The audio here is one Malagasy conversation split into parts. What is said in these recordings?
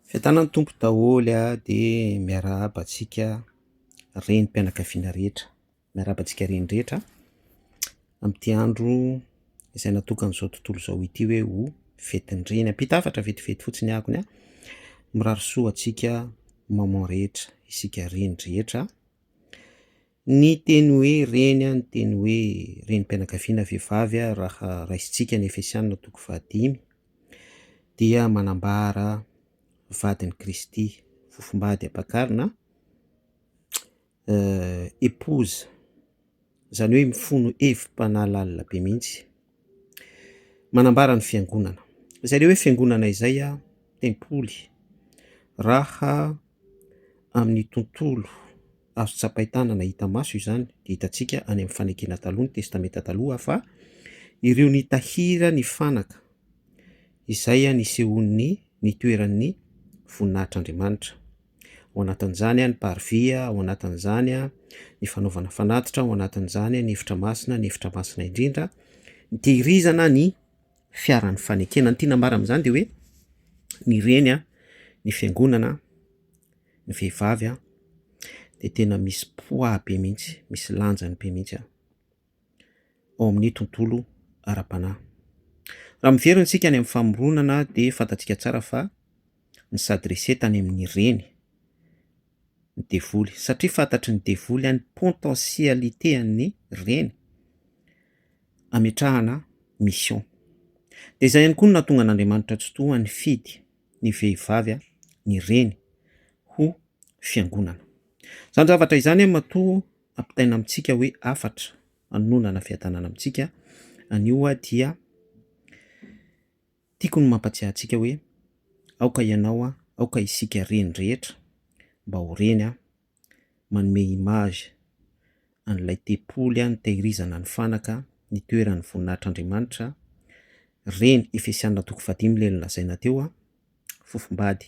Fiadanan'ny Tompo daholo a, de miarahaba antsika renim-pianakaviana rehetra, miarahaba antsika reny rehetra amin'ity andro izay natokan'izao tontolo izao ity hoe ho fetin'ny reny, ampita hafatra vetivety fotsiny ahakony a, mirary soa antsika maman rehetra, isika reny rehetra. Ny teny hoe reny, ny teny hoe renim-pianakaviana vehivavy raha raisintsika ny Efesianina toko fahadimy, dia manambara vadin'i Kristy, fofombady ampakarina, épouse, izany hoe mifono hevi-panahy lalina be mihitsy. Manambara ny fiangonana. Izay ilay hoe fiangonana izay, tempoly, raha amin'ny tontolo azo tsapain-tanana hita maso izany dia hitantsika any amin'ny fanekena taloha ny testamenta taloha fa ireo nitahiry ny fanaka izay nisehoan'ny nitoeran'ny voninahitr'Andriamanitra. ao anatin'izany ny parvis, ao anatin'izany ny fanaovana fanatitra, ao anatin'izany ny efitra masina, ny efitra masina indrindra, ny tehirizana ny fiaran'ny fanekena. Ny tiana ambara amin'izany dia hoe ny reny, ny fiangonana, ny vehivavy dia tena misy poids be mihitsy, misy lanjany be mihitsy. ao amin'ny tontolo ara-panahy. Raha miverina isika any amin'ny famoronana dia fantatsika tsara fa ny sadrise tany amin'ny reny ny devoly satria fantatry ny devoly any potentialité an'ny reny ametrahana mission. Dia izay ihany koa no nahatonga an'Andriamanitra Tsitoha nifidy ny vehivavy ny reny ho fiangonana. Izany zavatra izany matoa ampitaina amintsika hoe hafatra hanononana fiadanana amintsika, anio aho dia tiako ny mampatsiahy antsika hoe aoka ianao aho, aoka isika reny rehetra mba ho reny aho, manome image an'ilay tempoly nitahirizana ny fanaka nitoeran'ny voninahitr'Andriamanitra, reny Efesiana toko fahadimy ilay nolazaina teo, fofombady,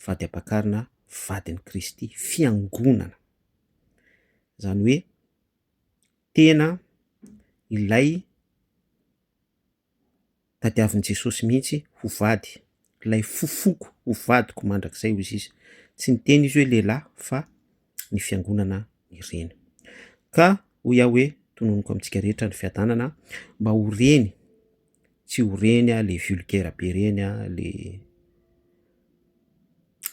vady ampakarina, vadin'i Kristy, fiangonana. Izany hoe tena ilay tadiavin'i Jesosy mihitsy ho vady, ilay fofoko ho vadiko mandrakizay hoy izy. Tsy niteny izy hoe lehilahy fa ny fiangonana ny reny. Ka hoy aho hoe tononiko amintsika rehetra ny fiadanana mba ho reny, tsy ho reny le vulgaire be reny le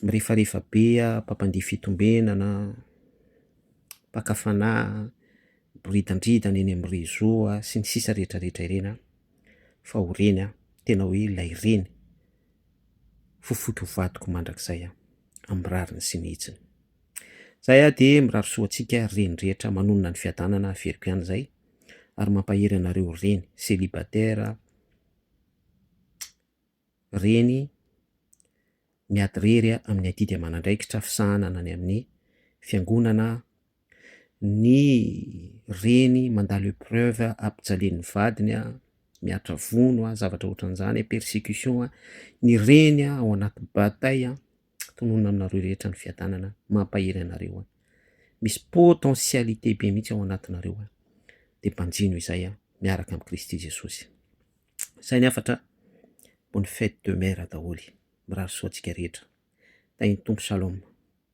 mirefarefa be aho, mpampandihy fitombenana, mpaka fanahy, boridandridana eny amin'ny réseaux a, sy ny sisa rehetra rehetra ireny an, fa ho reny aho, tena hoe ilay reny, fofoky ny vadiko mandrakizay an, amin'ny rariny sy ny hitsiny. Zay aho dia mirary soa antsika reny rehetra manonona ny fiadanana averiko ihany izay, ary mampahery anareo reny, célibataire, reny miadirery amin'ny adidy aman'andraikitra fisahana any amin'ny fiangonana, ny reny mandalo epreuve ampijalian'ny vadiny, mihatra vono, zavatra ohatran'izany, persecution, ny reny ao anaty bataille, tononina aminareo rehetra ny fiadanana, mampahery anareo, misy potentialité be mihitsy ao anatinareo, dia banjino izay miaraka amin'i Kristy Jesosy. Sahy ny hafatra bonne fête de mère daholo. Mirary soa antsika rehetra. Tahin'ny Tompo Shalom.